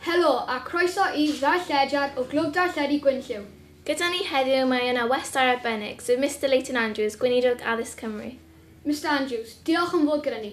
Helo a croeso i Ddarllediad o Glwb Darlledu Gwynllyw. Gyda ni heddiw mae yna westai arbennig, sef Mister Leighton Andrews, Gweinidog Addysg Cymru. Mister Andrews, diolch am fod gyda ni.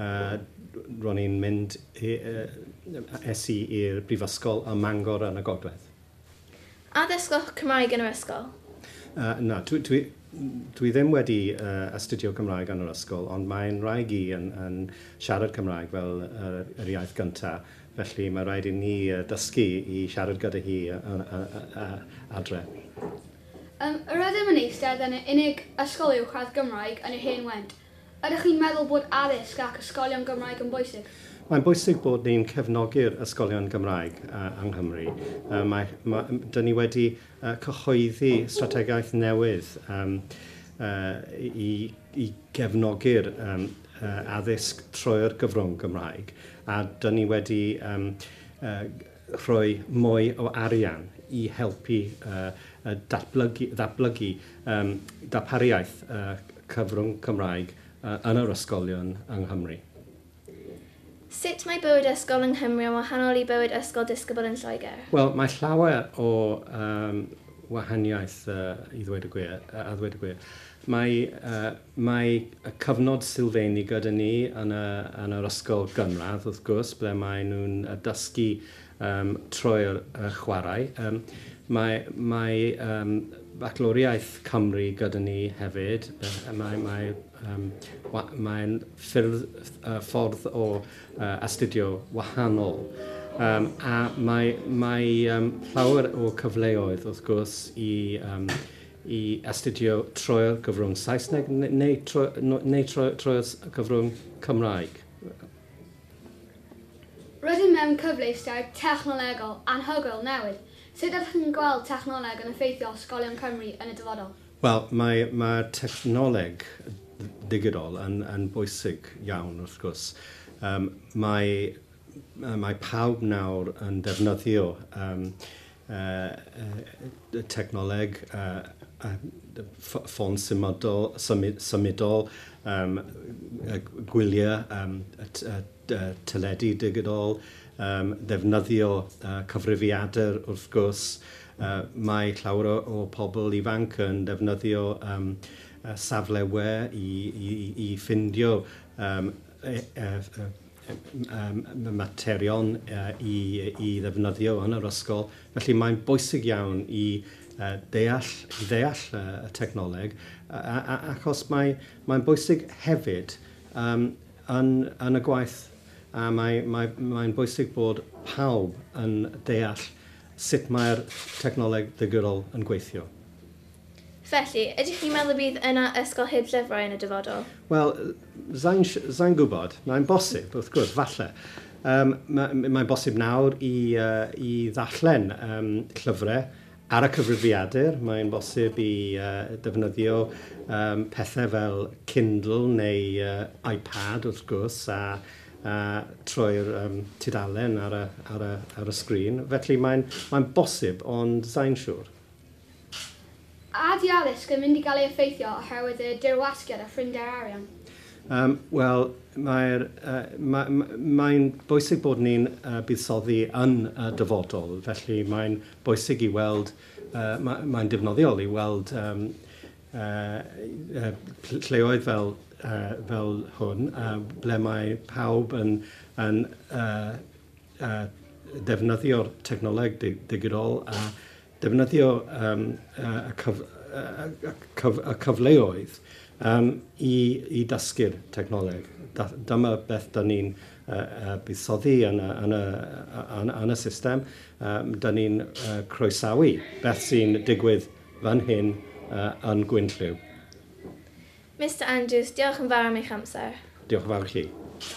A ro'n i'n mynd i yy es i i'r brifysgol ym Mangor yn y gogledd. A dysgoch Cymraeg yn yr ysgol? Yy na dwi dwi dwi ddim wedi yy astudio Cymraeg yn yr ysgol ond mae 'yn wraig i yn yn siarad Cymraeg fel yr yr iaith gynta felly mae raid i ni yy dysgu i siarad gyda hi yy yn yy yy adre. Yym rydym yn eistedd yn y unig ysgol uwchradd Gymraeg yn yr Hen Went. Ydych chi'n meddwl bod addysg ac ysgolion Gymraeg yn bwysig? Mae'n bwysig bod ni'n cefnogi'r ysgolion Gymraeg yng Nghymru. Mae, mae, 'dyn ni wedi cyhoeddi strategaeth newydd yym yy i i gefnogi'r yym yy addysg trwy'r gyfrwng Gymraeg a 'dyn ni wedi yym yy rhoi mwy o arian i helpu datblygu darpariaeth cyfrwng Cymraeg yn yr ysgolion yng Nghymru. Sut mae bywyd ysgol yng Nghymru yn wahanol i bywyd ysgol disgybl yn Lloegr? Wel, mae llawer o wahaniaeth i ddweud y gwir. Mae Mae y cyfnod sylfeini gyda ni yn y yn yr ysgol gynradd wrth gwrs ble mae nhw'n yy dysgu yym trwy'r yy chwarae. Yym mae mae yym Bacloriaeth Cymru gyda ni hefyd yy mae mae yym wa- mae'n ffyrdd yy ffordd o yy astudio wahanol yym a mae mae yym llawer o cyfleoedd wrth gwrs i yym i astudio trwy'r gyfrwng Saesneg neu, trwy, neu trwy, trwy'r gyfrwng Cymraeg. Rydym mewn cyfleuster technolegol anhygoel newydd. Sut ydych chi'n gweld technoleg yn effeithio ysgolion Cymru yn y dyfodol? Wel, mae, mae technoleg ddigidol yn, yn bwysig iawn, wrth gwrs. Um, mae, mae pawb nawr yn defnyddio um, y technoleg, ffon symudol, gwyliau teledu digidol, ddefnyddio cyfrifiadur wrth gwrs. Mae llawer o pobl ifanc yn defnyddio safle we i ffindio materion i ddefnyddio yn yr ysgol. Felly mae'n bwysig iawn i ddeall ddeall y technoleg achos mae'n bwysig hefyd yym yn yn y gwaith a mae mae mae'n bwysig bod pawb yn deall sut mae'r technoleg ddigidol yn gweithio. Felly, ydych chi'n meddwl y bydd yna ysgol heb llyfrau yn y dyfodol? Wel, sa i'n si-, sa i'n gwybod. Mae'n bosib, wrth gwrs, falle. Yym, ma', m- mae'n bosib nawr i, yy, i ddarllen yym llyfrau ar y cyfrifiadur. Mae'n bosib i, yy, defnyddio yym pethau fel Kindle neu yy iPad, wrth gwrs, a, a troi'r yym tudalen ar y, ar y, ar y sgrin. Felly, mae'n, mae'n bosib, ond sa i'n siŵr. A ydy addysg yn mynd i gael ei effeithio oherwydd y dirwasgiad a phrinder arian? Yym, wel, mae'r, yy, ma- m- mae'n bwysig bod ni'n, yy, buddsoddi yn y dyfodol, felly mae'n bwysig i weld, yy, ma- mae'n defnyddiol i weld, yym, yy, yy, pl- lleoedd fel, yy, fel hwn, yy, ble mae pawb yn, yn, yy, yy, ddefnyddio'r technoleg di- digidol a Defnyddio um, uh, y, cyf, uh, y, cyf, y cyfleoedd um, i, i dysgu'r technoleg. Da, dyma beth da ni'n uh, uh, buddsoddi yn y, yn y, yn, yn y system. Um, da ni'n uh, croesawu beth sy'n digwydd fan hyn uh, yn Gwynllyw. Mister Andrews, diolch yn fawr am eich amser. Diolch yn fawr i chi. Diolch.